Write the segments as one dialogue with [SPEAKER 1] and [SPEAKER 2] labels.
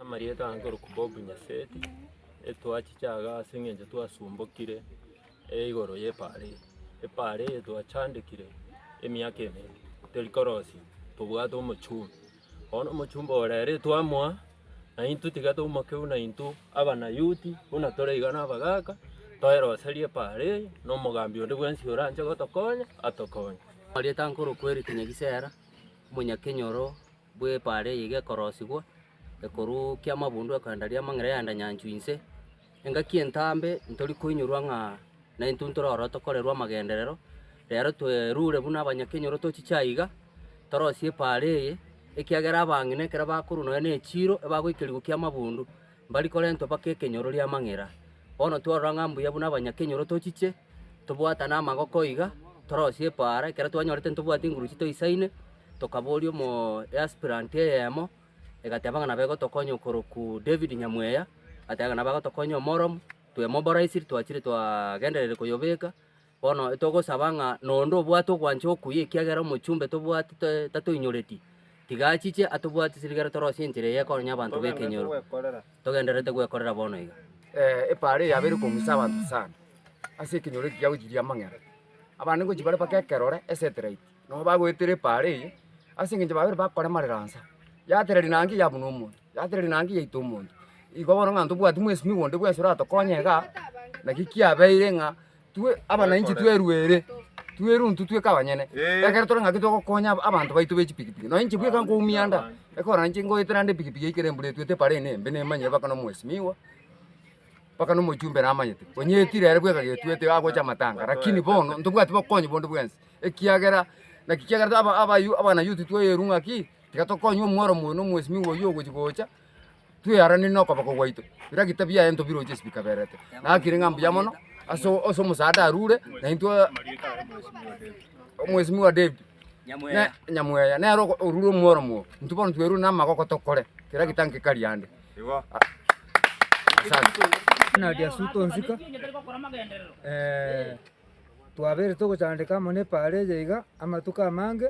[SPEAKER 1] Amarieta aya nkorokwa Bob Nyaseti, etwachiche iga ase eng'encho twasumbokire igoro y'epaara eye. Epaara eye twachandekire emiaka emere teri korosia tobwate omochumba. Bono omochumba oyo rero etwamoa naintwe tiga toumokeu naintwe abanayuti buna tore iga na abagaka toeroserie epaara eye na omogambi onde bwensi oranche gotokonya atokonye. Amarieta nkorokwa
[SPEAKER 2] Eric Nyagisera, omonyakenyoro Bw'epaara eye igekorosigwa, ekoruu ki'amabundu ekogenda ri'amang'ira yaenda nyanchwa inse. Engaki entambe ntori koinyorwa ng'a naintwe ntore ororo tokorerwa amagenderero, reero twerure buna abanyakenyoro tochiche aiga, torosie epaara eye, ekiagera abang'ina ekero bakorwa nonya nechiiro ebagoikerigwa ki'amabundu, mbari korentwa mpaka ekenyoro ri'amang'era. Bono twarora ng'a mbuya buna abanyakenyoro tochiche, tobwatane amagoko iga, torosie epaara, ekero twanyorete ntobwati enguruchi toisaine, tokaboria omoeaspirant eyemo, egateba ng'a nabo egotokonya okorokwa David Nyamweya, agateba ng'a nabo agotokonya omoromo, twemoboraisiri twachire twagendererire koyobeka. Bono togosaba ng'a noonde obwate ogwancha okuya ekiagera omochumbe tobwati tatoinyoreti, tiga achiche atobwate sirigere torosie enchera eye ekonya abanto b'ekenyoro. Togendererete gwekorera bono iga. Epaaro eye yabeire
[SPEAKER 3] komusa abanto sana ase ekenyoro eke giagochiria amang'era. Abande ngochia bare mpaka ekerore, eseterite, nabo bagoetera epaaro eye ase eng'encho babere bakoremarera nsa, yatereri naende yabunwa omonto. Gathereri na ngiya yaito omonto. Igo bono ng'a tobwati mwesimi onde bwensi oratokonye igaa, naki kiabeire ng'a twe abananchi twerwe ere, twerwe intwe tweka abanyene. Ekero tore ng'aki togokonya aba- abanto baito be chipigipigi. Nonye inche bweka nkoumia anda, ekero nainche ngoeta naende epigipigi ekero embura etwete epara eye embe nemanyire mpaka na omwesimigwa, mpaka na omochumbe namanyete. Onye etira ere bweka getwete agocha amatanga, rakini bono ntobwati bokonyi bonde bwensi, ekiagera naki kiagera taba abayu abana youth twayeru ng'aki, Tiga tokonywe omworo moyio na omwesimigwa oyio ogochi gocha, twearaneri na okoboko gwaito. Bira gita biaye ntobiroche ase bikabererete. Nakire ng'a mbuya mono, ase ase omosaada arure, na intwe omwesimigwa David, na Nyamweya, nere oko- orure omworo moyio. Intwe bono twerure na amagoko tokore, kera gita nki kari ande. Asante. Buna
[SPEAKER 4] riasu tonsika, twabeire togochandeka amo na epaara eye iga amatuko amange,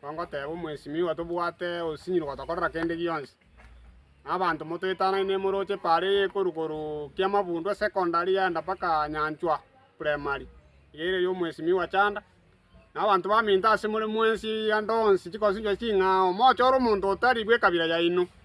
[SPEAKER 5] Tongoteba omwesimigwa tobwate osinyiri gotokorera kende gionsi. Na abanto motoetanane moroche paara eye ekorwa korwa Kiamabundo Secondary yaenda mpaka Nyanchwa Primary iga ere ya omwesimigwa Chanda. Na abanto baminto ase more mwensi igande onsi chikosinchwa ching'ao mochore omonto otari bw'ekabira yaino.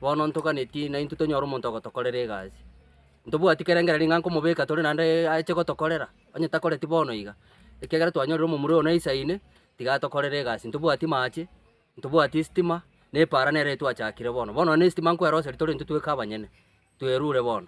[SPEAKER 2] Bono ntoganetie naintwe tonyore omonto ogotokorera egasi. Ntobwati kerengera ring'ana komobeka tore naende ache gotokorera, onye takoreti bono iga, ekiagera twanyorire omomura oyo naisaine, tiga atokorere egasi. Ntobwati maache, ntobwati esitima, na epaara nere etwachakire bono. Bono nonye esitima nkoeroseria torentwe tweka abanyene, twerure bono.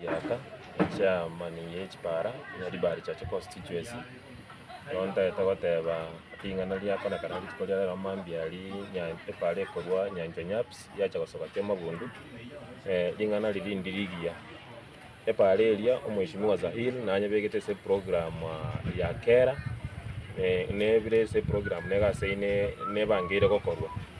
[SPEAKER 1] Giaka echiaamani ye chipara na ribaari chia chiconstituency, bono
[SPEAKER 6] ntagete goteba ring'ana riakonekana rituko ria rero mambia aria nya epara ekorwa nyanchwa nyaps yacha gosoka kiamagundo, ring'ana riria rinde rigiya. Epara eria omheshimiwa Zahir nanyebegete ase eprograam ya kera, nebire ase eprograam nigo ase ine nebangeire gokorwa.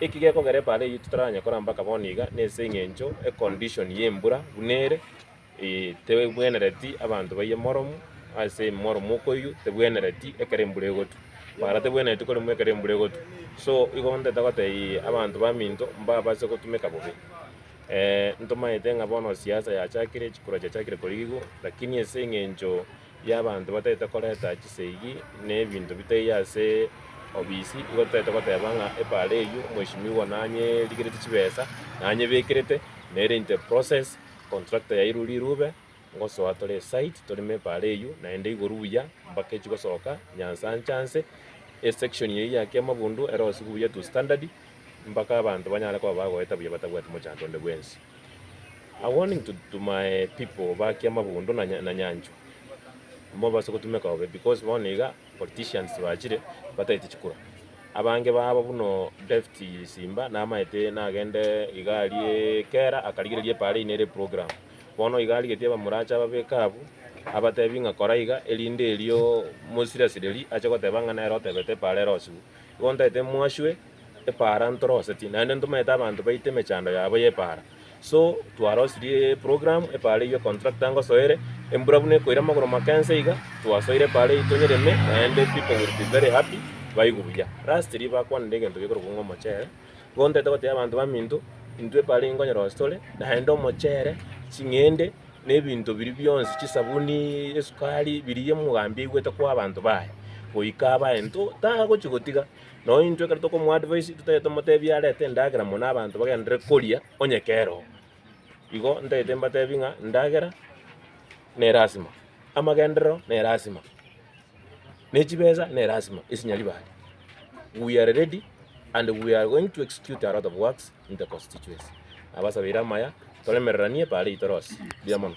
[SPEAKER 6] Eki gekogera ebaara eyio totaranya korambaka bono iga nase eng'encho e condition y'embura buna ere, ee, tebwenereti abanto bayie morum ase morum okoyio tebwenereti ekero embura egotwa. Ebaara tebwenereti koremwa ekero embura egotwa. So igo ntaete goteebia abanto baminto mbabase gotumeka bobe. ntomanyete ng'a bono siasa yachakire, chikura chiachakire korigigwa, lakini ase eng'encho y'abanto batagete koreta chiseegi na ebinto bitaiyo ase obisi, igo totagete goteba ng'a epaara eyio mweshimiwa nanyerigereti chibesa, nanyebekerete, nere in the process contractor yairwe rirube, ngosoa tore esite toreme epaara eyio, naende igoro buya mpaka echigosoka nyansa ancha anse, esection eyio yake amabundu ere onsi buya to standard, mpaka abanto banyare koba bagoeta buya batabwati mochango onde bwensi. A warning to to my people bake amabundo na na nyancho mobase gotumeka bobe because bono iga politicians bachire batagete chikura abange babo buno Deft simba namaete nagende iga arie kera akarigereria epara eywo nere eprogram bono iga arigeti abamorache ababeke abwo abatebi ng'a kora iga erinde erio mosiri asireri ache goteba ng'a nere otebete epara ero osiwu igo ntagete mwaswe. epaara ntoroseti naende ntomaete abanto baite emechando yabo y'epaara. So twarosirie eprogramu epaara eywo contractor ngosoere, embura buna ekoira amagoro make nse iga, twasoire epaara eywo tonyereme naende people will be very happy baigwe buya. Lastly bakwanire egento gekorokwa ng'a omochere, igo ntete gotebia abanto baminto, intwe epaara eywo nkonyerosia tore, naende omochere, ching'ende, na ebinto biria bionsi, chisabuni, esukari, biria omogambi aigwete koa abanto baye, goika abae intwe, tagochi gotiga. Nao intwe ekero tokomoadvise totagete tomotebie arete endagera mono abanto bagenderere koria onye kera oo. Igo ntagete mbatebie ng'a endagera nerasima, amagenderero nerasima, ne chibesa nerasima ase nyaribari. We are ready and we are going to execute a lot of works in the constituency. Nabasabeire amaya toremereranie paarei torosie. Mbuya mono.